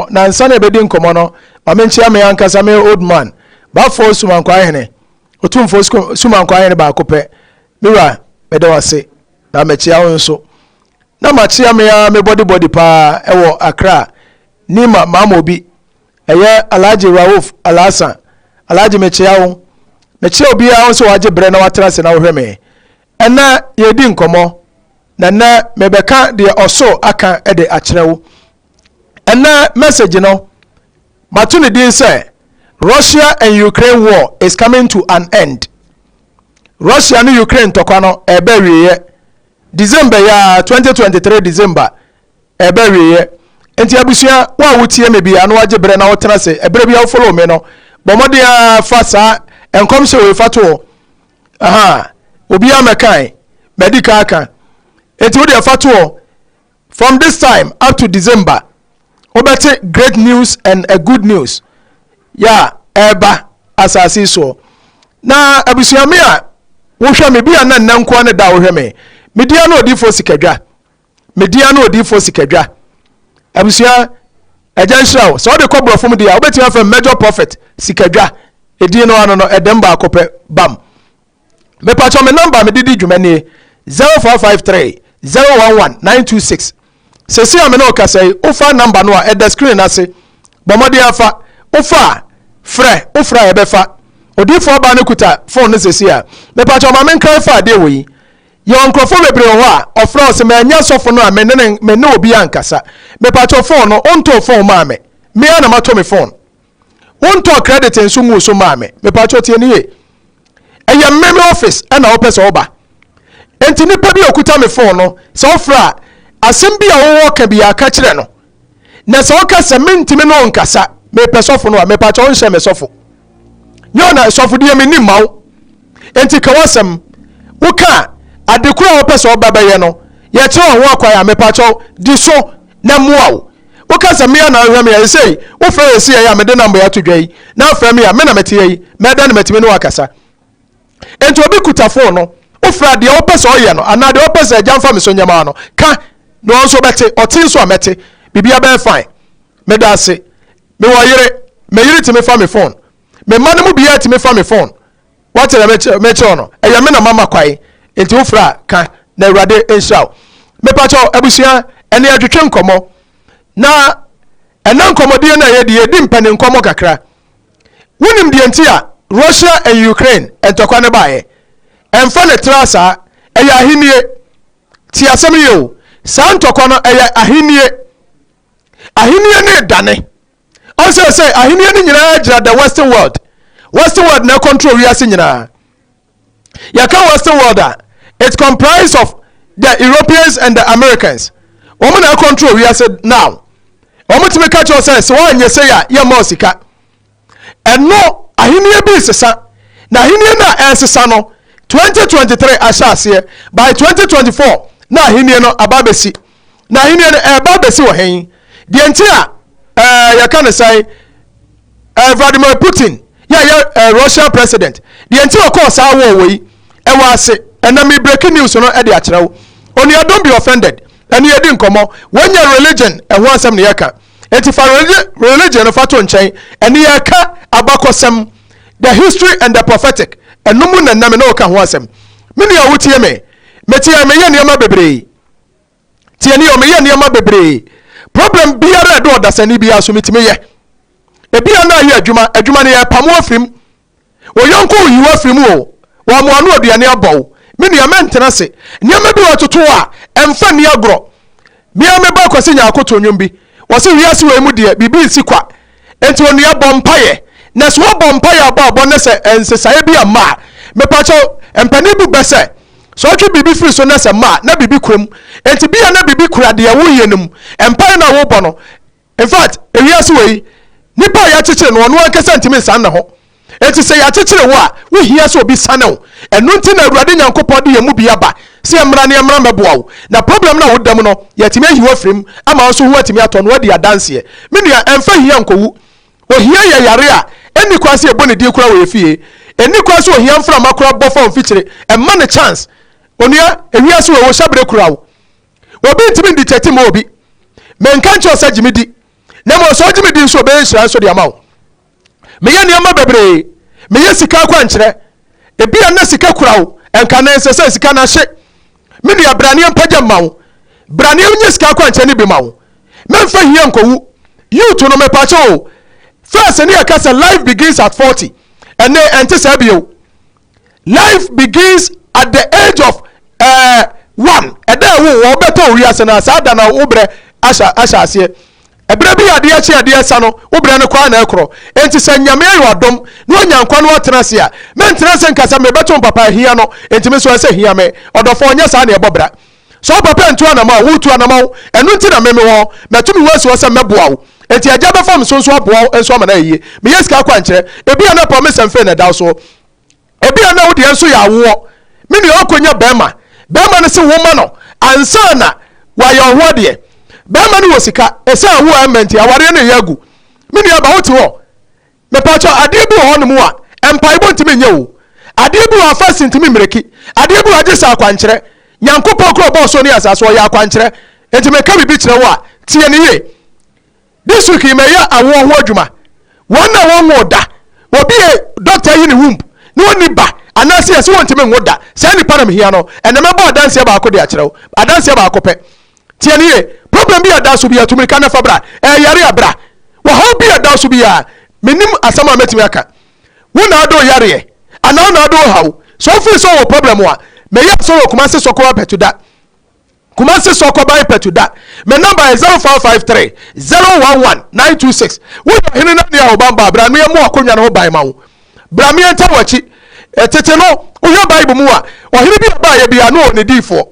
nansa na ɛbɛdi nkɔmmɔ no ma menkyea me ankasa me old man bafoɔ sumankwa hene ɔtumfoɔ sumankwa hene baako pɛ me wura meda wase na mɛkyea wo nso na makyea me a me body body paa ɛwɔ akra nima maama obi ɛyɛ alhaji rauf alhassan alhaji mekyea wo mekyea obiara wo sɛ wagye berɛ na watena ase na wohwɛ me ɛnɛ yɛdi nkɔmmɔ na ɛnɛ mebɛka deɛ ɔsoro aka de akyerɛ wo ɛnnɛ message no mato ne din sɛ Russia and Ukraine war is coming to an end Russia ne Ukraine ntɔkwa no ɛreba awieeɛ December yi a 2023 December ɛreba awieeɛ nti abusua wo a wotie me bia na wagye berɛ na wotena se ɛberɛ bia wofolo me no bɔ mmɔden a fa saa nkɔmhyɛ wei fa toɔ aha obiara mɛkan madi kan aka nti wodeɛ fa toɔ From this time up to December wobɛte great news and a good news yɛ a ɛreba asase yi soɔ. Na abusua me a wohwɛ me bi a na nnɛ nkoa ne da a wohwɛ me. Me dia no odiifoɔ sikadwa. Me dia no odiifoɔ sikadwa. Abusua agya nhyira wo. Sɛ wode kɔ borɔfo mu deɛ a wobɛtumi afrɛ me major prophet sikadwa. Edin no ano no ɛdɛm baako pɛ bam. mepatwɔ me nɔmba a mede di dwuma nie, zero four five three zero one one nine two six Seesei a me ne wo kasa yi, wofa nɔmba no a, ɛda screen no ase. Bɔ mmɔden ara fa. Wofa a, frɛ. Wofrɛ a, yɛbɛfa. Odiyifoɔ ɔbaa no kuta phone no seesei a. Mepatwɔ ma menkra ɛfa adeɛ wɔ yi. Yɛwɔ nkurɔfoɔ bebree wɔ hɔ a, ɔfrɛ wo se manya sɔfo no a me ne ne me ne obiara nkasa. Mepatwɔ phone no, wontoo phone maa me. Me ara na matɔ me phone. Wo ntɔɔ credit nso nguu so maa me. Me pakyɛw tie ne yie. Ɛyɛ me me office ɛna wo pɛ sɛ wo ba. Nti nipa bi a okuta me phone no sɛ wo frɛ a asem bi a wo wɔ ka biaa ka kyerɛ no. Na sɛ wo ka sɛ me ntimi ne wo nkasa me pɛ sɔfo no a me pakyɛw nhyɛ me sɔfo. Nyɛ wo na sɔfo deɛ me nim ma wo. Nti ka wasem. Wo ka a ade koro a wo pɛ sɛ wo ba bɛyɛ no yɛ kyerɛ wo ho akwan a me pakyɛw di so na mmoa wo. Woka sɛ, 'Me ara na wohwɛ me a, esei wofrɛ yɛn siei a mede namboe ato dwa yi, na afrɛ me a, me na mete ha yi, mɛda na matumi ne wo akasa. Enti obi kuta fon no, wofrɛ a, deɛ wopɛ sɛ ɔyɛ no, anaa deɛ wopɛ sɛ Agya mfa me so nyɛ maa no, ka, na ɔno nso bɛte, ɔte nso a, mɛte. Biribiara bɛyɛ fine. Meda ase. Mewɔ yere. Me yere tumi fa me fon. Me mma no mu biara tumi fa me fon. Wate na mekyerɛ mekyerɛ wo no, ɛyɛ me na mama kwan, nti wofrɛ a ka na Awurade nhyira wo. Mepakyɛw abusua, ɛnna yɛtwetwe nkɔmmɔ, na ɛnna nkɔmmɔdie no a yɛdi, yɛdi mpanin nkɔmmɔ kakra. Wonim deɛ nti a Russia and Ukraine ntɔkwa no baeɛ? Ɛmfa ne tra saa, ɛyɛ ahennie. Te asɛm yie o, saa ntɔkwa no ɛyɛ ahennie. Ahennie no redane. Ɔsɛ sɛ ahenni no nyinaa gyina the western world. Western world na control wiase nyinaa. Yɛka western world a, it comprise of the Europeans and the Americans. Wɔn na control wiase now. Wɔn tumi ka kyerɛ sɛ sɛ wɔanyɛ sɛ yɛ a yɛ mɔ sika. Ɛno ahenni bi sesa na ahenni no a ɛresesa no 2023 ahyɛ aseɛ by 2024 na ahenni no aba bɛsi. na ahenni no ɛreba abɛsi wɔ hen? Deɛ nti a ɛɛ yɛka ne sɛn? Ɛɛ Vladimir Putin yɛ ɛyɛ ɛɛ Russian president deɛ nti ɔkɔɔ saa wɔɔ wɔ yi ɛwɔ ase ɛnna mi breaking news no ɛde akyerɛ wo onua don't be offended ɛne yɛdi nkɔmɔ wɔnyɛ religion ɛho asɛm ne yɛka eti fa religion no fa to nkyɛn ɛne yɛka abakɔsɛm the history and the prophetic ɛno mu na ɛnna mi na ɔka ho asɛm me nua wotie me metie meyɛ nneɛma bebree. tie ne yɛ meyɛ nneɛma bebree problem biara ɛde ɔdasani biara so metumi yɛ ebia na ayɛ adwuma adwuma no yɛpamo afiri mu ɔyɔnko oyiw afiri mu o wɔamoa no aduane abɔ o me nua mɛntena se nneɛma bi wɔ toto a ɛmfa nni agorɔ mea meba kwasi nyaako to nnwom bi wɔse wiase wei mu deɛ biribi nsi kwa Enti onua bɔ mpaeɛ na sɛ wobɔ mpaeɛ abɔ abɔ na sɛ nsesaeɛ bi amma a, mepa kyɛw mpanin bu bɛ sɛ, sɛ ɔtwe biribi firi so na sɛ mma a na biribi kura mu. Enti bia na biribi kura deɛ woreyɛ no mu. Mpaeɛ no a worebɔ no, infact ewiase wei, nipa a yɛakyekyere no ɔno ankasa ntumi nsan ne ho. Enti sɛ yɛakyekyere wo a, wohia sɛ obi sane wo. Ɛno nti na Awurade Nyankopɔn de yɛn mu bi aba sɛ yɛmmra na yɛmmra mmɛboa wo. Na problem no a woda mu no, yɛatumi ayi wo afiri mu ama wo nso ho atumi atɔ na woadi adanseɛ. Me nua, ɛmfa hia nkɔwu. Ohia yɛ yare a ɛnni kwan sɛ yɛbɔ ne din koraa wɔ yɛn fie. Ɛnni kwan sɛ ohia mframa koraa bɔ fa wo mfikyire. Mma no chance. Onua, ewiase wei, ohyɛbere kura wo. Obi ntumi ndi kyɛte mma obi. Menka nkyerɛ wo sɛ gye me di, na mmom sɛ wogye me di nso a, ɔbɛyɛ nhyira nso de ama wo. Meyɛ nneɛma bebree. Meyɛ sika akwankyerɛ. Ebia na sika kura wo, ɛnka na ɛnsɛ sɛ sika no ahye. Me nua, bra na yɛmpa gya mma wo. Bra na yɛnyɛ sika akwankyerɛ no bi ma wo. Mɛmfa hia nkowu. Youth no, mepakyɛw o, first ne yɛka sɛ life begins at forty. Ɛnnɛ, ɛnte saa bio. Life begins at the age of eh, one. Ɛda a ɛwo wɔ bɛtɔ owi ase no, saa da na wo berɛ ahyɛ aseɛ. Ɛberɛ bi adeɛ kye adeɛ sa no, wo berɛ no koraa na ɛkorɔ. Enti sɛ Nyame ayɛ wadom na wanya nkwa na watena ase a, mentena ase nka sɛ mebɛto mpapa ahia no, enti me nso ɛsɛ hia me. Ɔdɔfoɔ, nyɛ saa na ɛbɔ bra. Sɛ wo papa antu anamɔ a, woretu anamɔ. Ɛno nti na me mewɔ hɔ. Matu me ho asi hɔ sɛ mɛboa wo. Enti Agya bɛfa me so nso aboa wo nso ama no ayɛ yie. Meyɛ sika akwankyerɛ. Ebia na pɔmesanfee na ɛda wo soɔ. Ebia na wo deɛ nso yɛ awoɔ. Me nua, ɔrekɔnya barima. Barima no se wo ma no ansa na wayɛ wo ho adeɛ. Barima no wɔ sika. Ɛsiane wo a ɛmma nti, awareɛ no reyɛ agu. Me nuaba, wote hɔ? Mepakyɛw adeɛ bi wɔ hɔ nom a mpaebɔ ntumi nyɛ oo, adeɛ bi wɔ hɔ a fast ntumi mmiriki, adeɛ bi wɔ hɔ gye sɛ akwankyerɛ. Nyankopɔn koro a ɔbɔɔ soro ne asaase, ɔyɛ akwankyerɛ. Enti meka biribi kyerɛ wo a, tie no yie. This week yi mɛyɛ awoɔ ho adwuma. Wɔn a wɔnwoo da, obi a doctor ayi ne womb na ɔnni ba anaasɛ yɛse wɔntumi nwo da, saa nipa na mehia no. Ɛnnɛ mɛbɔ adanseɛ baako de akyerɛ wo, adanseɛ baako pɛ. Tie no yie. Problem bi a ɛda so biara, tu mmirika na fa bra. Ɛyɛ yare a, bra. Ɔhaw bi a ɛda so biara, mennim asɛm a mɛtumi aka. Wo na ade wo yareɛ, anaa wo na ade wo haw. Sɛ wo feel sɛ wowɔ problem a, mɛyɛ asɔre wɔ Kumasi Sɔkɔba Pɛtuda. Kumasi Sɔkɔban Pɛtuda. Me number yɛ 0553 011 926. Wo yɛ ɔhene na nea ɔban baa, bra no yɛ mo akonnwa no ho ban ma wo. Bra meɛ nta wɔ akyi. Tete no, wohwɛ Bible mu a, ɔhene bi a ɔbaeɛ biara na ɔwɔ ne diifoɔ.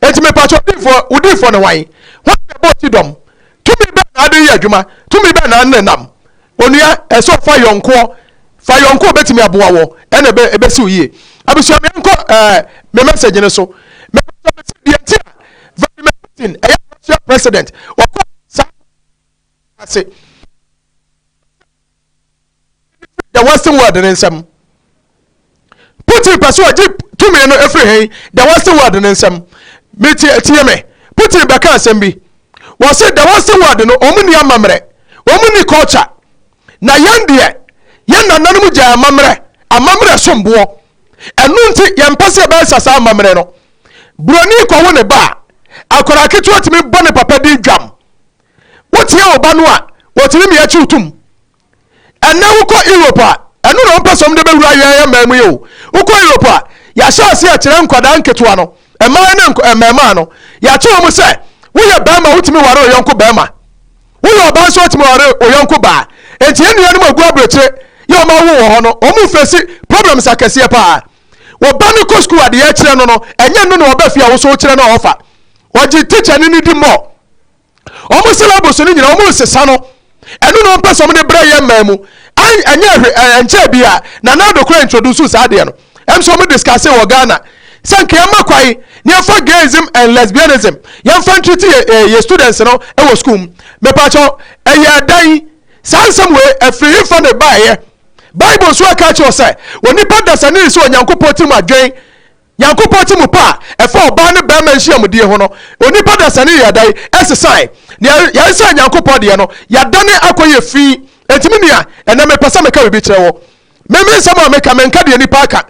Enti mepakyɛ odiyifoɔ, wo diyifoɔ ne hwan? Hwan na ɛbɔɔ ti dɔm? Tumi bɛn na ade reyɛ adwuma? Tumi bɛn na nenam? Onua, ɛsɛ ɔfa yɔnkoɔ. Fa yɔnkoɔ a obɛtumi aboa woɔ, ɛna ɛbɛ ɛbɛsi wo yie. Abusua, me nkɔ ɛɛ me message no so. Mepakyɛ me se deɛ nti a Vladimir Putin ɛyɛ Russia president, ɔkɔ saa ase. the western world ne nsam putin pɛ sɛ ɔgye tumi no ɛfiri he the western world ne nsam metie me putin bɛka asɛm bi wɔ se the western world no ɔmu ni amammerɛ ɔmu ni culture na yɛn deɛ yɛn nananom gyaa amammerɛ amammerɛ somboɔ ɛno nti yɛmpɛ sɛ yɛbɛsa saa amammerɛ no buroni kɔwo ne ba a akwadaa ketewa tumi bɔ ne papa din dwam Wotie wo ba no a, otumi mia kyi wo tom. Ɛnnɛ wokɔ Europe a, ɛno na wɔpɛ sɛ wɔde bɛwura yɛn mmaa mu yi o. Wokɔ Europe a, yɛahyɛ ase akyerɛ nkwadaa nketewa no, mmaa ne mmarimaa no, yɛakyerɛ wɔn sɛ woyɛ barima wotumi ware ɔyɔnko barima, woyɛ ɔbaa nso wotumi ware ɔyɔnko baa. Enti yɛn nuanom a wɔgu aburokyire yɛ wɔn awo wɔ hɔ no, wɔn mfɛsi problems akɛseɛ paa. Wo ba no kɔ sukuu a deɛ ɛkyerɛ no no, ɛnyɛ no na ɔba fie a wo so wokyerɛ no a ɔfa. Ɔgye tikyani no di mmɔ. wɔn syllabus no nyinaa wɔn nsesa no ɛno na wɔn pɛ sɛ wɔn de brɛ yɛ mmaa mu ɛnyɛ ɛhwɛ ɛnkyɛ bi a na nado kora introduce saa adeɛ no ɛm sɛ wɔn discuss wɔ ghana sɛ nka yɛn ma kwan ne yɛn fa gayism and lesbianism yɛn fa ntiriti yɛ eh, yɛ students no ɛwɔ school mu mɛpakyɛw ɛyɛ ɛdan saa nsɛm wei ɛfiri yɛn fa na ɛbaayɛ bible nso ɛka kyerɛ sɛ wɔn nipa dasani nso onyankopɔn ti mu adwene Nyankopɔn tse mu pa a ɛfa ɔbaa ne barima nhyiamudie ho no, onipa dasani yɛ dɛn ɛsesae? Nea yɛresae Nyankopɔn deɛ no, yɛadane akɔyɛ fi. Enti me nua, ɛnnɛ mepɛ sɛ meka biribi kyerɛ wo. Me, me nsɛm a meka, menka deɛ nnipa aka.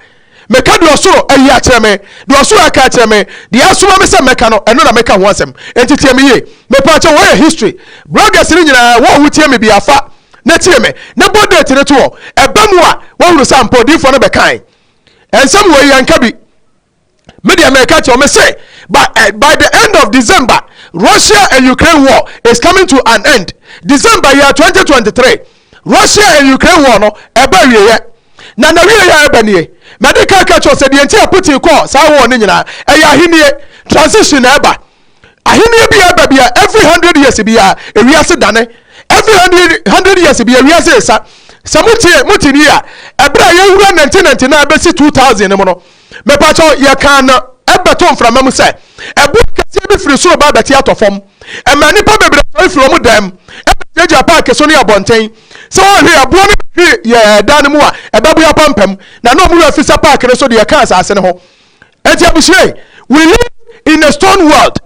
Meka deɛ ɔsoro ayi akyerɛ me, deɛ ɔsoro aka akyerɛ me, deɛ asoma me sɛ mmɛka no, ɛno na meka ho asɛm. Enti tie me yie. Mepaakyɛw, wɔyɛ history bloggers no nyinaa, wo a wotie me biaa fa na tie me, na bɔ date no to hɔ. Ɛba mu a, woahunu sɛ ampa odiyifoɔ no bɛkae. Nsɛm wei yɛn ka bi. Me deɛ mɛ ka kyerɛ me se by, uh, by the end of December Russia and Ukraine war is coming to an end. December year 2023 Russia and Ukraine war no ɛbɛ wieɛ na na wieɛ yɛ ɛbɛ nie. Mɛ de ka ka kyerɛ sɛ deɛ nti a Putin kɔɔ saa war no nyinaa ɛyɛ ahennie transition na ɛba. Ahenni biara ba bia every hundred years bia ewiase dane every hundred hundred years bia ewiase esa sɛ mo tie mo te ni a ɛberɛ a yɛwura nante nante na ɛbɛsi two thousand no mu no mepatɔ yɛkaa no ɛbɛto mframa mu sɛ ɛboɔ kɛseɛ bi firi soro ba abɛte atɔ fam ɛma nnipa bebree sɔre firi wɔn dan mu ɛbɛgyinagyina paaki so ne abɔnten sɛ wɔhwe ɛboɔ no hwe yɛ dan no mu a ɛbɛboa pampam na na wɔn wura fisa paaki no so deɛ ɛka asase no ho ɛti abusua yi we live in a stone world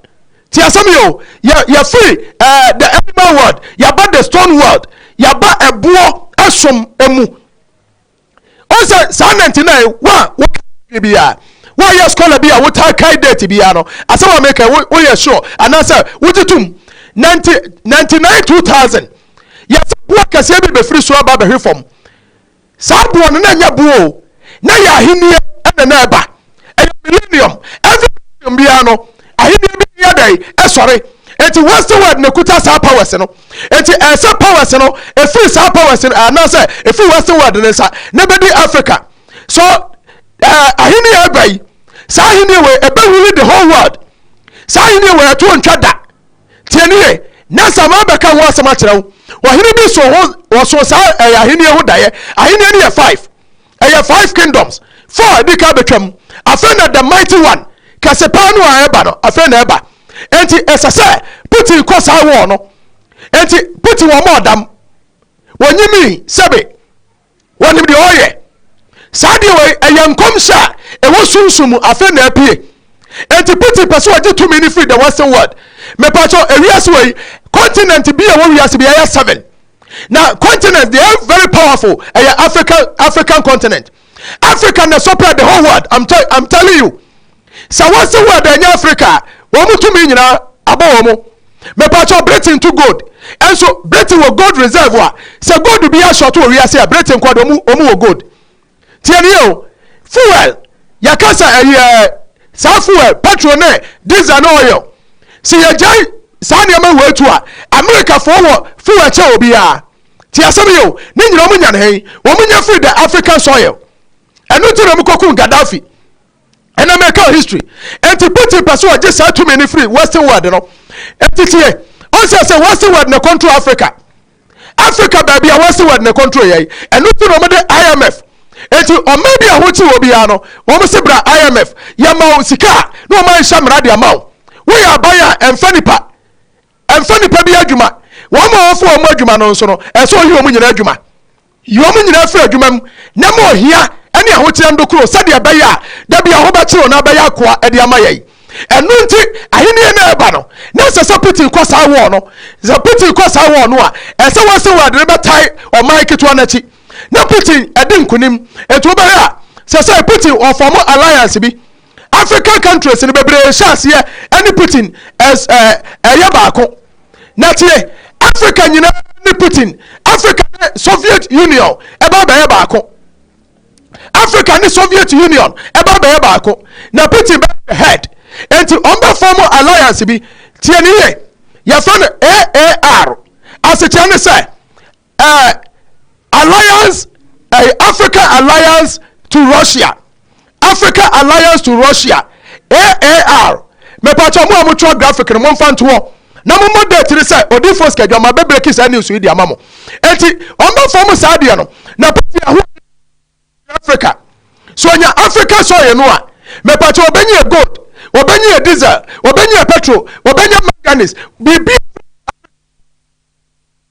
ti asɛm yi o yɛ yɛfiri ɛɛ eh, the animal world yaba the stone world yaba ɛboɔ ɛsom emu o sɛ saa nante na yi wa wɔ kɛ bi a woyɛ scholar bi a wotaa kae date biara no asɛm a meka woyɛ sure anaasɛ wogye tom 99 2000 yɛsɛ boa kɛseɛ bi bɛfiri soro aba bɛhwe fam Saa boɔ no, na ɛnyɛ boɔ o, na ɛyɛ ahennie na na ɛreba. Ɛyɛ millennium. Every millennium biara no, ahennie bi yɛ dɛn? Ɛsɔre. Enti western world na ɛkuta saa powers no. Enti ɛyɛ sɛ powers no, ɛfiri saa powers no, anaasɛ ɛfiri western world no nsa, na ɛbɛdi Africa. So, ɛɛ, ahennie a ɛba yi, saa ahennie wei, ɛbɛwuli the whole world. Saa ahennie wei, ɛto ntwa da. Tie no yie, na sɛ mabɛka ho asɛm akyerɛ wo, ɔhene bi so ho, wɔso saa ɛyɛ ahennie ho daeɛ. Ahennie no yɛ five. Ɛyɛ five kingdoms. Four adi kan bɛtwam. Afei na the mighty one, kɛse paa no a ɛba no, afei na ɛba. Enti ɛsɛ sɛ Putin kɔ saa wɔɔ no. Enti Putin wɔn ɔdam. Wɔnyimii, sɛbe. wɔnim deɛ ɔyɛ saa deɛ wei ɛyɛ nkɔmhyɛ a ɛwɔ sunsum mu afei na apue enti putin pɛ sɛ ɔgye tumi no firi the western world mepakyɛ ewiase wei continent bi a ɛwɔ wiase bi ɛyɛ seven na continent they are very powerful ɛyɛ african african continent africa na sɔpɛ the whole world i'm, tell, I'm telling you Sɛ wɔn se word ɛnyɛ Africa a, wɔn tumi nyinaa abɔ wɔn. Mepakyɛw, Britain to gold. Nso Britain wɔ gold reserve a, sɛ gold biara short wɔ wiase a, Britain nkoa de, wɔn wɔ gold. Tie no yie o. Fuel, yɛka sɛ ɛyɛ saa fuel, petrol ne diesel ne oil. Se yɛgyae saa nneɛma wei to a, Amerikafoɔ wɔ fuel kyɛn obiara. Tie asɛm yi o, ne nyinaa wɔn nya no he? Wɔn nya firi the African soil. Ɛno nti na wɔkɔkum Gaddafi. ɛnɛ mɛka history nti putin pɛ sɛ ɔgye saa tumi no firi western world no nti tie ɔnsɛ sɛ western world na control africa africa baabi a western world na control yɛi ɛno nti na ɔmode imf nti ɔma bi a hokye wɔ biara no wɔn se bra imf yɛma wo sika a na ɔma nhyɛ mmara de ama wo woyɛ aban a ɛmfa nipa ɛmfa nipa bi adwuma wɔn a wɔfo wɔn adwuma no nso no ɛsɛ ɔyi wɔn nyinaa adwuma Yi wɔn nyinaa firi adwuma mu, na ma ohia ne ahokyere nnokoro, sɛdeɛ ɛbɛyɛ a da bi ɛho bɛkyere wɔn abɛyɛ akoa de ama yɛn. Ɛno nti, ahennie no a ɛreba no, na ɛsɛ sɛ piti kɔ saa wɔɔ no. Sɛ piti kɔ saa wɔɔ no a, ɛsɛ sɛ wɔn sɛ wɔn de no bɛtae ɔman ketewa no akyi, na piti adi nkonim. Enti wobɛhwɛ a, sɛ sɛ piti wɔfɔɔmo alliance bi, African countries no bebree hyɛ aseɛ ɛne Putin ɛs ɛɛ ɛyɛ baako. Na tie, Africa nyinaa ne Putin. Africa ne Soviet Union ɛba abɛyɛ baako. Africa ne Soviet Union ɛba abɛyɛ baako. Na Putin bɛ head. Enti wɔn bɛ form alliance bi. Tie ne yie, yɛfrɛ no AAR. Asekyerɛ ne sɛ eh, alliance eh, african alliance to russia african alliance to russia aar mepatwa mo a motwerɛ graphic no momfa ntoɔ na mommɔ date no sɛ odifoɔ sikadwama bɛbreki saa news yi de ama mo enti ɔmbɛfa mu saa deɛ no na pɛfi aho africa so ɔnya africa soil no a mepatwa ɔbɛnyɛ gold ɔbɛnyɛ diesel ɔbɛnyɛ petrol ɔbɛnyɛ manganese biribi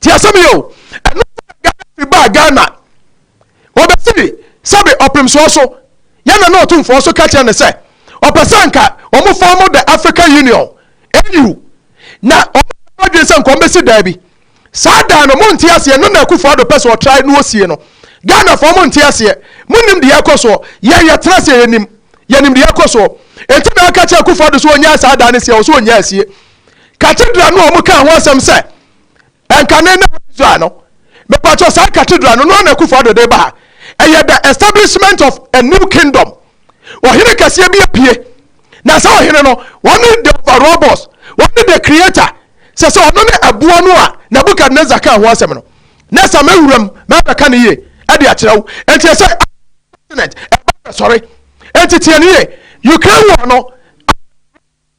ti asɛm yi o ɛno fi baa ghana wɔbɛsiri sɛbe ɔpemsoɔ so yɛna na ɔtomfoɔ so ka kyerɛ ne sɛ ɔpɛ sɛ nka wɔn fɔm the african union au na wɔn adwene sɛ nkɔm bɛsi daa bi saa daa no monte aseɛ no na akufo ado pɛ sɛ ɔtrae na ɔsie no ghana fɔm monte aseɛ monim deɛ ɛkɔ soɔ yɛn yɛtena aseɛ yɛnim yɛnim deɛ ɛkɔ soɔ ɛnti na aka kyerɛ akufo ado so ɔnyaa saa daa no sie ɔ so ɔnyaa asie cathedral no a wɔn kaa ho asɛm sɛ ɛnkane na israel no mepatwɔ saa cathedral no no na akufo ado de ba ha ɛyɛ the establishment of a new kingdom ɔhene kɛseɛ bi apue na saa ɔhene no wɔne the overall boss wɔne the creator sɛ sɛ ɔno ne ɛboɔ no a nebukadnezar kaa ho asɛm no na sɛ mɛwuram mɛbɛka no yie ɛde akyerɛ wo ɛnti sɛ continent ɛba sɔre ɛnti tiɛ no yie ukraine war no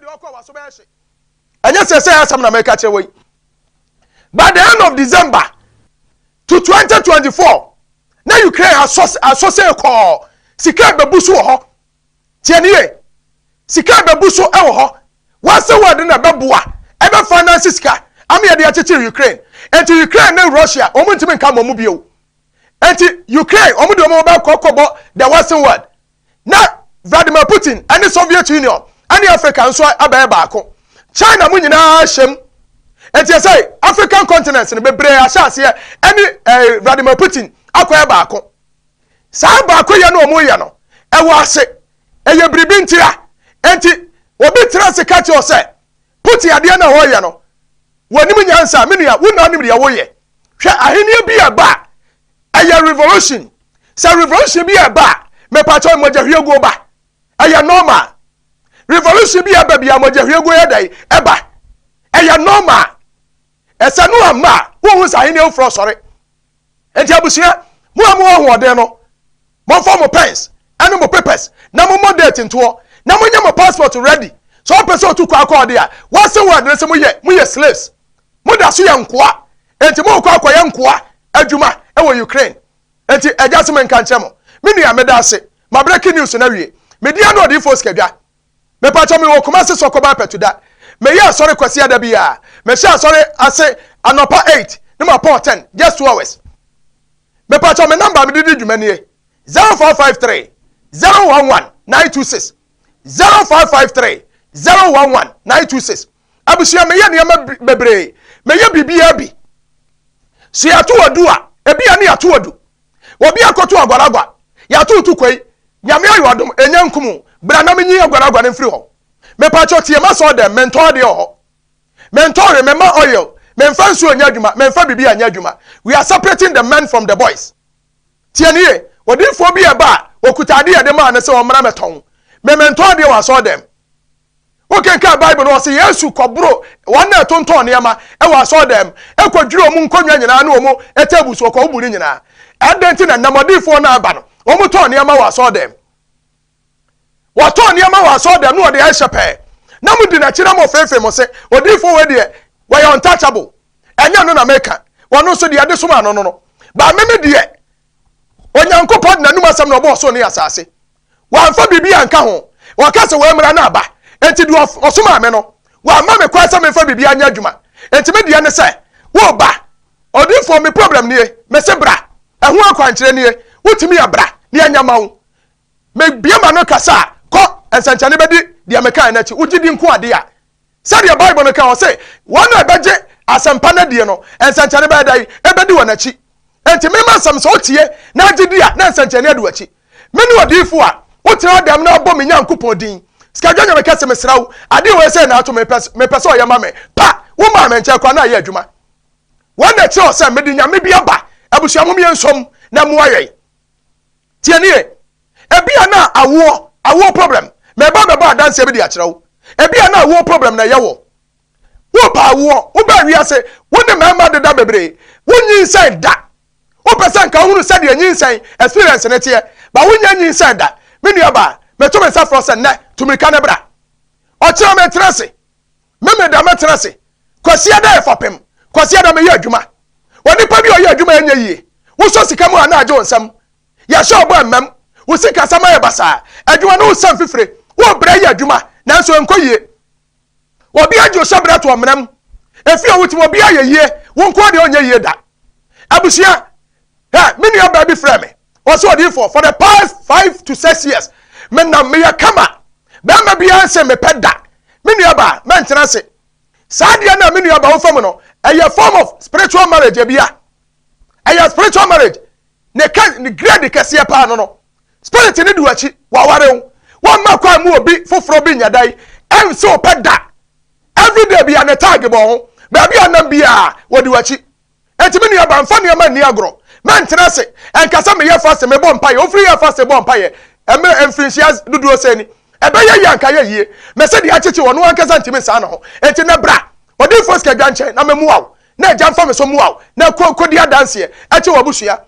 deɛ ɔkɔ waso bɛyɛ hye ɛnyɛ sɛ sɛ asɛm na mɛka kyerɛ wɔ yi by the end of december to 2024 na ukraine asɔ sɛ kɔɔ sika ɛbɛbu so wɔ hɔ tiɛ ne yɛ sika ɛbɛbu so ɛwɔ hɔ wɔasɛ wɔde na ɛbɛboa ɛbɛ finance sika ama yɛde akyekyere ukraine ɛnti ukraine ne russia wɔn ntumi nka mɔmu bio ɛnti ukraine wɔn de wɔn bɛkɔ kɔbɔ the western world na Vladimir Putin ne Soviet Union ne Africa nso abɛyɛ baako. China mu nyinaa hyɛm. Enti ɛsɛ African continent no bebree ahyɛ aseɛ ɛne eh, Vladimir Putin akɔyɛ baako. Saa baakoyɛ no ɔmo yɛ no ɛwɔ ase ɛyɛ biribi ntia. Enti obi tena ase ka kyerɛ sɛ Putin adeɛ na ɔyɛ no wɔnim nyansa. Me nua, wo na wonim deɛ woyɛ. Hwɛ ahenni bi a ɛba a ɛyɛ revolution sɛ revolution bi ɛba a mepatɔ mmɔgyahwiegu ba ɛyɛ normal revolution bi ɛba bi a mmɔgyahwiegu yɛ dɛn ɛba ɛyɛ normal ɛsɛ no ama a wohu sɛ ahenni afoforɔ sɔre nti abusua mo a mo ahoɔden no Momfa mo pens ne mo papers na mommɔ date ntoɔ na monyɛ mo passport ready. Sɛ wopɛ sɛ otu kwan kɔ ɔde a, woasen wo adwene sɛ moyɛ moyɛ slaves. Moda so yɛ nkoa. Enti morekɔ akɔyɛ nkoa adwuma wɔ Ukraine. Enti agya se menka nkyerɛ mo. Me nua, meda ase. Mabreki news no awie. Me din ane Ɔdiyifo Osika Dwa. Mepakyɛw mewɔ Kumasi Soko by Pɛtuda. Meyɛ asɔre Kwasiada biara. Mehyɛ asɔre ase anɔpa eight ne mapɔn ten, just two hours. Mepakyɛw me number a mede di dwuma nie, zero four five three, zero one one, nine two six, zero four five three, zero one one, nine two six. Abusua, meyɛ nneɛma bebree. Meyɛ biribiara bi. Sɛ yɛato adu a, ebi a ne yɛato adu. Obi akoto aguaragua. Yɛato to kwei. Nyame ayɛ adom, ɛnya nkum wo. Bra na menyi aguaragua no mfiri hɔ. Mepakyɛw tie m'asɔɔdɛm, mentɔ adeɛ wɔ hɔ. Mentɔ hwee, memma oil. Memfa nsuo nyɛ adwuma, memfa biribiara nyɛ adwuma. We are separating the men from the boys. Tie no yie. Odiyifoɔ bi reba a, ɔkuta adeɛ a yɛde maa no sɛ ɔmmra mmɛtɔn. Me, mentɔ adeɛ wɔ asɔɔdɛm. Wokenkan Bible no, wɔse Yesu kɔboro wɔn na ɛtontɔn nneɛma wɔ asɔredan mu, ɛkɔdwiri wɔn nkonnwa nyinaa ne wɔn tables wɔ kɔwbo no nyinaa. Ɛdɛn nti na nnamɔdifoɔ no aba no, wɔtɔn nneɛma wɔ asɔredan mu? Wɔtɔn nneɛma wɔ asɔredan mu na wɔde ɛhyɛ pɛɛ. Na modi n'akyi na mofeefee mo se, odiyifoɔ wei deɛ, wɔyɛ untouchable. Ɛnyɛ no na meka, wɔno nso deɛ ɛde somaa no no no. Ba meme deɛ, Onyankopɔn de n'anom asɛm na ɔbɔɔ soro ne asase. Wamfa biribi anka ho. Ɔka sɛ, Wei mmara no aba. Enti deɛ ɔsomaa me no, wamma me kwan sɛ memfa biribiara nyɛ adwuma. Enti me deɛ ne sɛ, woreba. Odiyifoɔ, me problem nie. Mese bra. Ɛho akwankyerɛ nie. Wotumi a bra, na yɛnyɛ mma wo. Mebue m'ano kasa a, kɔ. Nsɛnkyerɛnne bɛdi deɛ mekaeɛ no akyi. Wogye di nko adeɛ a, Sɛdeɛ Bible no ka, ɔse, Wɔn a ɛbɛgye asɛmpa no adie no, nsɛnkyerɛnne bɛyɛ dɛn? Ɛbɛdi wɔn akyi. Enti mema nsɛm sɛ wotie na agye di a, na nsɛnkyerɛnne adi w'akyi. Mene odiyifoɔ a wotena adan mu na wobɔ me Nyankopɔn din. Sikadwa Nyame ka se, Mesrɛ wo, adeɛ wei sɛi na ato me, mepɛ sɛ ɔyɛ ma me. Pa! Womaa me nkyɛn koraa na ayɛ adwuma. Wɔn na ɛkyerɛ sɛ mede nyame bi aba, abusua mom yɛn nsom na mmoa yɛn. Tie no yie. Ebia na awoɔ, awoɔ problem. Mɛba bɛbɔ adanseɛ bi de akyerɛ wo. Ebia na awoɔ problem na ɛyɛ woɔ. Wopɛ awoɔ, wobaa wiase, wo ne mmarima deda bebree, wonyinsɛn da. Wopɛ sɛ nka wohunu sɛdeɛ nyinsɛn experience no teɛ, but wonnya nyinsɛn da. Me nuabaa, mɛto me nsa frɛ wo sɛ nnɛ, tu mmirika na bra. Ɔkyena mɛtena ase. Memeneda mɛtena ase. Kwasiada yɛ fapem. Kwasiada meyɛ adwuma. Onipa bi a ɔyɛ adwuma a ɛnyɛ yie. Wosɔ sika mu a na agye wo nsam. Yɛahyɛ wo bɔ ɛmmam. Wo sikasɛm ayɛ basaa. Adwuma no wosua mfifire. Wobrɛ yɛ adwuma nanso ɛnkɔ yie. Obiara gye wo hyɛberɛ to ɔmena mu. Efie a wote mu obiara yɛ yie, wo nko ara deɛ ɔnyɛ yie da. Abusua, Hɛ! Me nuabaa bi frɛɛ me. Ɔsɛ odiifoɔ for the past five to six years me nam meyɛ kama bɛrima biara nse mepɛ da me nua baa mɛntena ase saa deɛ na me nua baa wofa mu no ɛyɛ form of spiritual marriage ebia ɛyɛ spiritual marriage ne kɛ ne grade kɛseɛ paa no no spirit ne du akyi waware wo wɔn mma kwan mu obi foforɔ bi nyɛ dan ɛnse wopɛ da everyday bia ne tag bɔ ho baabi a nam bia wɔde wakyi Enti me nua ba, mfa nneɛma nni agorɔ. Mɛntena ase nka sɛ meyɛ faste, mebɔ mpaeɛ. Wofiri yɛɛ faste bɔɔ mpaeɛ mmerɛ mfirinhyia dodoɔ sɛn ni? Ɛbɛyɛ yie a anka ayɛ yie. Mese deɛ akyekye ɔno ankasa ntumi nsaa ne ho. Enti nnɛ bra odiyifoɔ Sikadwa nkyɛn na memmoa wo, na Agya mfa me so mmoa wo, na kɔ kɔdi adanseɛ kyerɛ w'abusua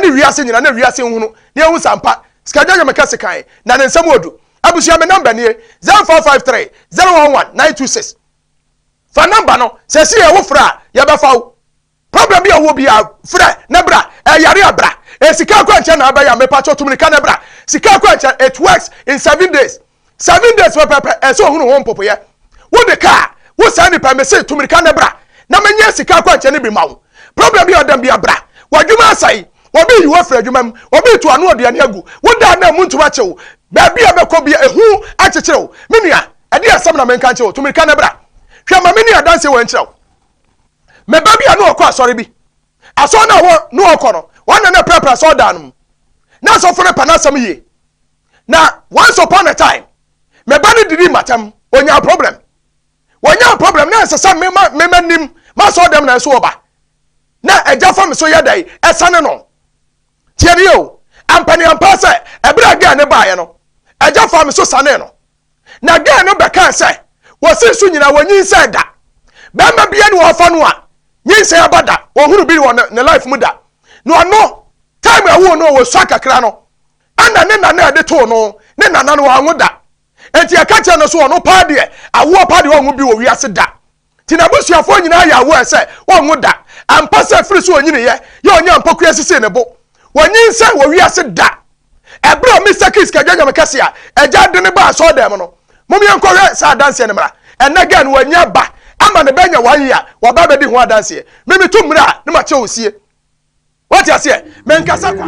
ne wiase nyinaa, na wiase nhunu na yɛhu sɛ ampa Sikadwa yɛ me kɛse kann, na ne nsɛm wɔ du. Abusua, me nɔmba nie, 0553 011 926. fa nɔmba no sɛ si yɛ wo frɛ a yɛbɛfa wo problem bi a ɔwɔ bi a frɛ ne bra ɛyare a bra esika akwankyɛn na ɛbɛyɛ a mepakyɛ tum ne ka ne bra sika akwankyɛn it works in seven days seven days pɛpɛpɛ ɛsɛ ohunu ho mpopoyɛ wo de kaa wo saa nipa mese tum ne ka ne bra na menyɛ sika akwankyɛn ne bi ma wo problem bi a ɔdam bi a bra w'adwuma asɛe wɔbi yi wafiri adwuma mu wɔbi to ano aduane agu wodaa na mu ntoma kyew baabi a bɛkɔ bi ehu akyekyere wo me nua Ɛdeɛ asɛm na menka nkyerɛ wo? Tu mirika na bra. Hwɛ, ma menni adanseɛ wei nkyerɛ wo. Me ba bi a na ɔkɔ asɔre bi, asɔre no a wɔ na ɔkɔ no, wɔn na na ɛprapra asɔre dan no mu. Na asɔfo no pɛ n'asɛm yie. Na once upon a time, me ba no didi matam, ɔnyaa problem. Wɔnyaa problem na ɛsɛ sɛ mema mema nim m'asɔre dɛm na nso ɔba. Na agya fa me so yɛ dɛn ɛsane no. Tiɛ ne yɛ o, ampa ne ampa sɛ ɛberɛ a gɛɛ no baeɛ no, agya fa me so sanee no. Na girl no bɛkaa sɛ, Wɔse nsu nyinaa wɔnyinsɛn da. Bɛrima biara ne wɔfa no a, nyinsɛn aba da. Ɔhunu bi wɔ ne life mu da. Na ɔno, time a ɛwoo no, ɔsua kakra no, ɛna ne nana ɛde too no. Ne nana no, wanwo da. Enti ɛka kyerɛ no so, ɔno paa deɛ, awoɔ paa deɛ ɔnwo bi wɔ wiase da. Nti n'abusuafoɔ nyinaa yɛ aware sɛ wɔnwo da. Ampa sɛ firi so ɔnyiniiɛ yɛ ɔnyɛ mpɔkoeɛ sisii ne bo. Wɔnyinsɛn wɔ wiase da. Ɛberɛ a Mister Kiss ka dwanyame kɛse a agya de no baa asɔɔdan mu no, mom yɛnkɔhwɛ saa adanseɛ no mmra. Ɛnnɛ Gen wanya ba ama no bɛnya one year, waba abɛdi ho adanseɛ. Me metu mmra a na makyerɛ wo sie. Wate aseɛ? Menkasa kwa.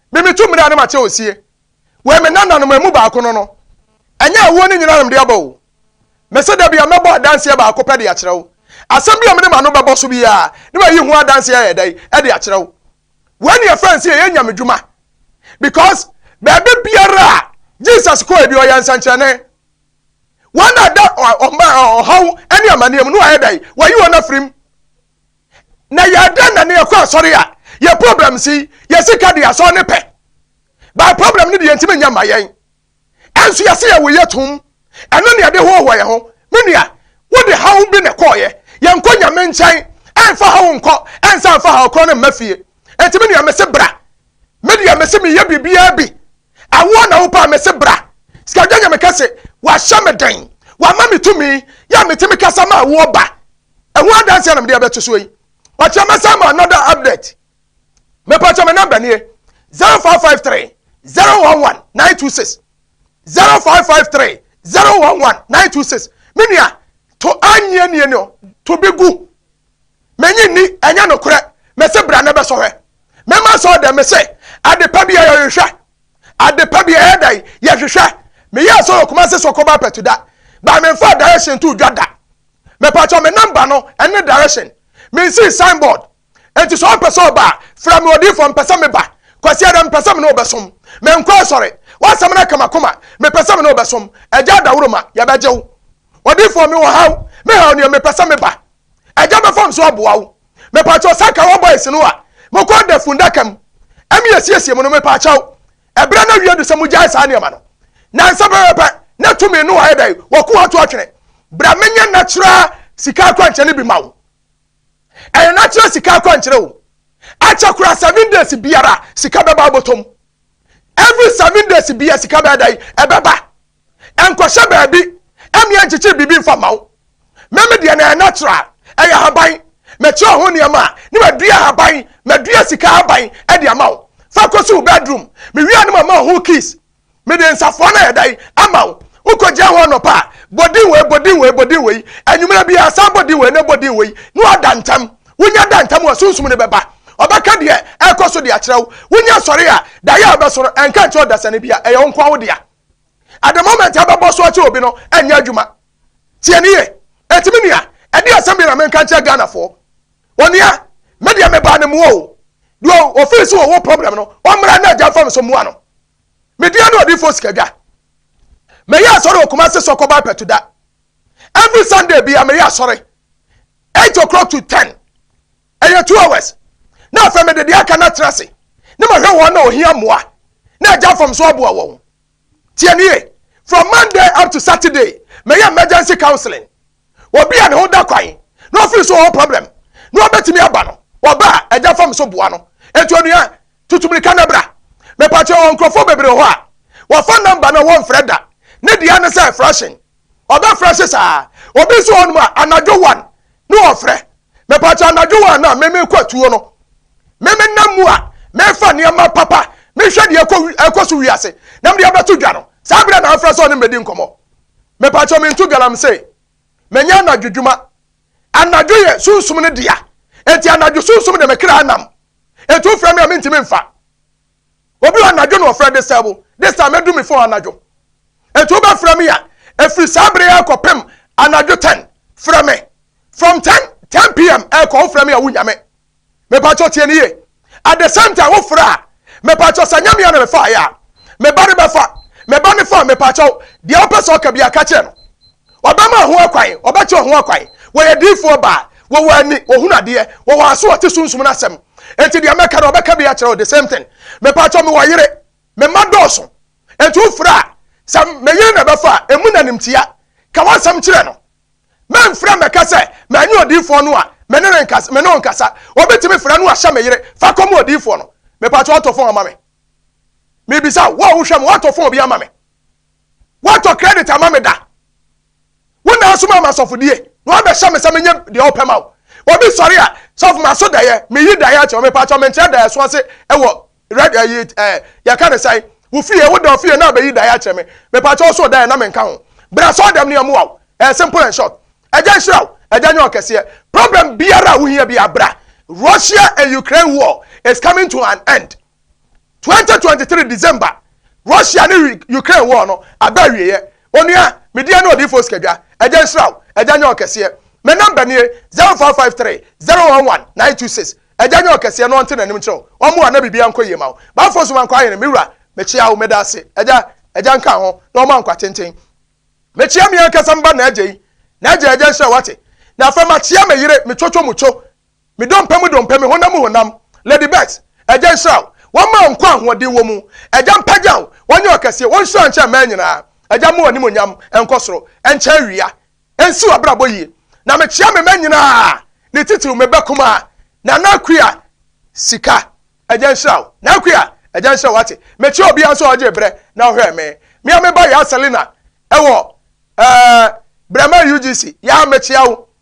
Me metu mmere a na mate osie wɔ me nananom amu baako no no, ɛnyɛ awoɔ no nyinaa na mede aba o. Mese da bia mɛbɔ adanseɛ baako pɛ de akyerɛ wo. Asɛm bi a mede m'ano bɛbɔ so biara na mayi ho adanseɛ ayɛ dɛn de akyerɛ wo. Wei na yɛfrɛ no sɛ yɛyɛ nyamedwuma because baabi biara a Jesus kɔɛ bi ɔyɛ nsɛnkyerɛnne. Wɔn a da ɔma ɔhaw ne amaneɛ mu no wayɛ dɛn? Wayi wɔn afirim. na yɛ dɛn na ne yɛkɔ asɔre a yɛ problem si yɛ sika de asɔre ne pɛ by problem ne de yɛntumi nya ma yɛn ɛnso yɛse yɛ woyɛ tom ɛno ne yɛde hohoa yɛ ho me nua wode haw bi na kɔɔyɛ yɛnkɔ nyame nkyɛn ɛnfa haw nkɔ ɛnsa nfa haw korɔ no mma fie ɛnti me nua mese bra me deɛ mese meyɛ biribiaa bi awoɔ na wopaa mese bra sikadwa nyame kɛse wahyɛ me den wama me tumi yɛ metumi kasa ma awoɔ ba ɛho adanseɛ na mede abɛto soɔ yi pakyɛ mɛsan ma another update mɛpakyɛ me namba nie 0553 011 926 0553 011 926 me nua to anyɛ nie no to bi gu menye ni ɛnyɛ nokorɛ mɛse bra na bɛsɔhwɛ mɛma sɛ ɔdɛ mese adepa bi a yɛhwehwɛ Ade pa bi ɛyɛ dɛn? Yɛhwehwɛ. Meyɛɛ sɛ ɔwɔ Kumasi so kɔba pɛto da, but memfaa direction too dwa da. Mepakyɛw me number no ɛne direction. Minsii sign board. Enti sɛ ɔpɛ sɛ ɔba a, frɛ me odiyifoɔ, mepɛ sɛ meba. Kwasi Adam, mepɛ sɛ me ne wo bɛsom. Menkɔ asɔre. W'asɛm no aka m'akoma. Mepɛ sɛ me ne wo bɛsom. Agya Dawuroma, yɛbɛgye wo. Odiyifoɔ, mewɔ haw. Me haw nie, mepɛ sɛ meba. Agya bɛfam so aboa wo. Mepaakyɛw sɛ anka wɔn boys no a mokɔ da fundaka mu ɛmi esiesie mu no mepaakyɛw ɛbrɛ na wie do sɛ mo gyae saa nneɛma no na nsa pɛpɛpɛ na tumi no ayɛ dɛ wɔko ato atwene bra menyɛ natural sika akwankyerɛ no bi ma wo ɛyɛ natural sika akwankyerɛ o akyɛ kora seven days biara sika bɛba abotom every seven days biara sika bɛda ɛbɛba Ɛnkɔhyɛ baabi ɛmeɛ nkyekyere biribi nfa mma wo. Me me deɛ na ɛyɛ natural, ɛyɛ ahaban. Mekyerɛ ho nneɛma a na madua ahaban, madua sika ahaban de ama wo. Fa kɔsi wo bedroom. Mewie a na mama wo ho kiss. Mede nsafoa no a ɛyɛ dɛ yi ama wo. Wokɔgyina ho anɔpa a, bɔ din wei, bɔ din wei, bɔ din wei. Anwummerɛ biara san bɔ din wei na bɔ din wei. Na woada ntam. Wonya da ntam a, sunsum no bɛba. Ɔbɛka deɛ ɛrekɔ so de akyerɛ wo. Wonya sɔre a, daeɛ a wobɛsɔre, ɛnka nkyerɛ ɔdasani biara. Ɛyɛ wo nko ara wo dea. at the moment ɛbɛbɔ so akyɛ obi no ɛnyɛ adwuma tie ne yɛ ɛtumi nua ɛde asɛm bi na menka nkyerɛ ghanafoɔ onua me deɛ mebaa ne mmoa o deɛ ofii so wɔwɔ problem no ɔmmra na agya fam so mmoa no medeɛ no ɔdifoɔ sikadwa meyɛ asɔre okuma se sɔkɔ ba pɛto da every sunday bia meyɛ asɔre 8 o'clock to 10 ɛyɛ two hours na afei mede deɛ aka no atena ase na mahwɛ wɔn na ohia mmoa na agya fam so aboa wɔn tie nie from monday up to saturday mɛyɛ emergency counseling obi a ne ho da kwan na ɔfiri so ɔwɔ problem na ɔbɛtumi aba no ɔba a agya fam so boa no etu onua tutumirika na bra mepatwa wɔn nkurɔfoɔ bebree hɔ a wɔfa namba na wɔmfrɛ da ne deɛ ne sɛ frɛhyɛn Ɔbɛfrɛ se saa. Obi nso wɔ hɔ nom a, anadwo one ne ɔfrɛ. Mepaakyɛ anadwo one a, me mekɔ atuo no. Me me nam mu a, mefa nneɛma papa, mehwɛ deɛ ɛkɔ wi, ɛkɔ so wiase, na mede abɛto dwa no. Saa berɛ na afrɛ sɛ ɔne me bɛdi nkɔmmɔ. Mepaakyɛ mento galamsey. Menyɛ anadwo dwuma. Anadwo yɛ sunsum no dea. Enti anadwo sunsum de me kra nam. Enti wofrɛ me a, mentumi mfa. Obi wɔ anadwo na ɔfrɛ de sɛ wo de sɛ mɛdu me fon anadwo. Enti wobɛfrɛ me a, ɛfiri saa bere yɛ kɔpem anadwo 10, frɛ me. From 10, 10 pm ɛkɔ wofrɛ me a wonnya me. Mepakyɛ tie ne yie. At the same time wofrɛ a, mepakyɛ sɛ nyɛ me a na mefaeɛ a, me ba ne bɛfa. Me ba ne fa a, mepakyɛw, deɛ wopɛ sɛ ɔka biara ka kyerɛ no. Ɔbɛma ho ɛkwan, ɔbɛkyerɛ ho ɛkwan. Wɔyɛ diifoɔ baa, wɔwɔ ani, wɔhunu adeɛ, wɔwɔ aso wɔte sunsum no asɛm. Enti deɛ mɛka no ɔbɛka bi akyerɛ wo, the same thing. Mepaakyɛw mewɔ yere, me mma dɔɔso, enti wo frɛ a, sɛ me yere na ɛbɛfa a, ɛmu na nimtia. Ka w'asɛm kyerɛ no. Mɛmfrɛ mmɛka sɛ manyɛ odiifoɔ no a, me ne no nkasa, me ne wo nkasa. Obi tumi frɛ no ahyɛ me yere, fa kɔma odiifoɔ no. Mepaakyɛw atɔ fon ama me. Mebisa wo, wo a wohwɛ me, woatɔ fon bi ama me? Woantɔ credit ama me da. Wo na asoma ama sɔfodie. Na wabɛhyɛ me sɛ menyɛ deɛ wopɛ ma wo. Obi sɔre a, sɔfo maso daeɛ, meyi daeɛ akyerɛ wo, mepaakyɛ menkyerɛ daeɛ so ase wɔ red ɛyi eh, ɛ eh, yɛka ne sɛn, wo fie, wo da ofie na abɛyi daeɛ akyerɛ me, mepaakyɛ ɔso daeɛ na menka ho. Bra sɔɔ dɛm ne ɛmoa wo. Ɛyɛ simple and short. Ɛgya nhyira wo, ɛgya nyɛ ɔkɛseɛ. Problem biara a wohia biara bra. Russia and Ukraine war is coming to an end. Twenty twenty three December, Russia ne Ukraine war no aba awieɛ. Onua, me deɛ ne odiyifoɔ Sikadwa, Agya nhyira wo, Agya nyɛ ɔkɛseɛ. Me number nie, zero five five three, zero one one, nine two six. Agya nyɛ ɔkɛseɛ na ɔnte n'anim nkyerɛ wo, ɔmmoa na biribiara nkɔ yie ma wo. Bafo Nso Mankwa Ahene, me wura, mekyea wo, meda ase, Agya, Agya nka ho, na ɔmma nkwa tenten. Mekyea me ankasa me ba N'Agya yi, N'Agya, Agya nhyira wo, wate? Na afei makyea me yere, me Chocho Mucho, Me dompe mu dompe, me honam mu honam, Lady Beth, Agya nhyira wo, wɔmma wo nkwa a ahoɔden wɔ mu, Agya mpagya wo, wɔnyɛ wo kɛseɛ, wɔnhyira wo nkyɛn mmaa nyinaa, Agya mma w'animuonyam nkɔ soro nkyɛ awia, nsi w'abrabɔ yie, na mekyea me mma nyinaa, ne titiriw me ba kumaa, Nana Akua Sika, Agya nhyira wo, Nana Akua, Agya nhyira wo, wate, mekyea obiara nso a ɔgyee berɛ na ɔhwɛɛ me, me a me ba Yaa Selina wɔ ɛɛ Brɛma UGC, Yaa mekyea wo,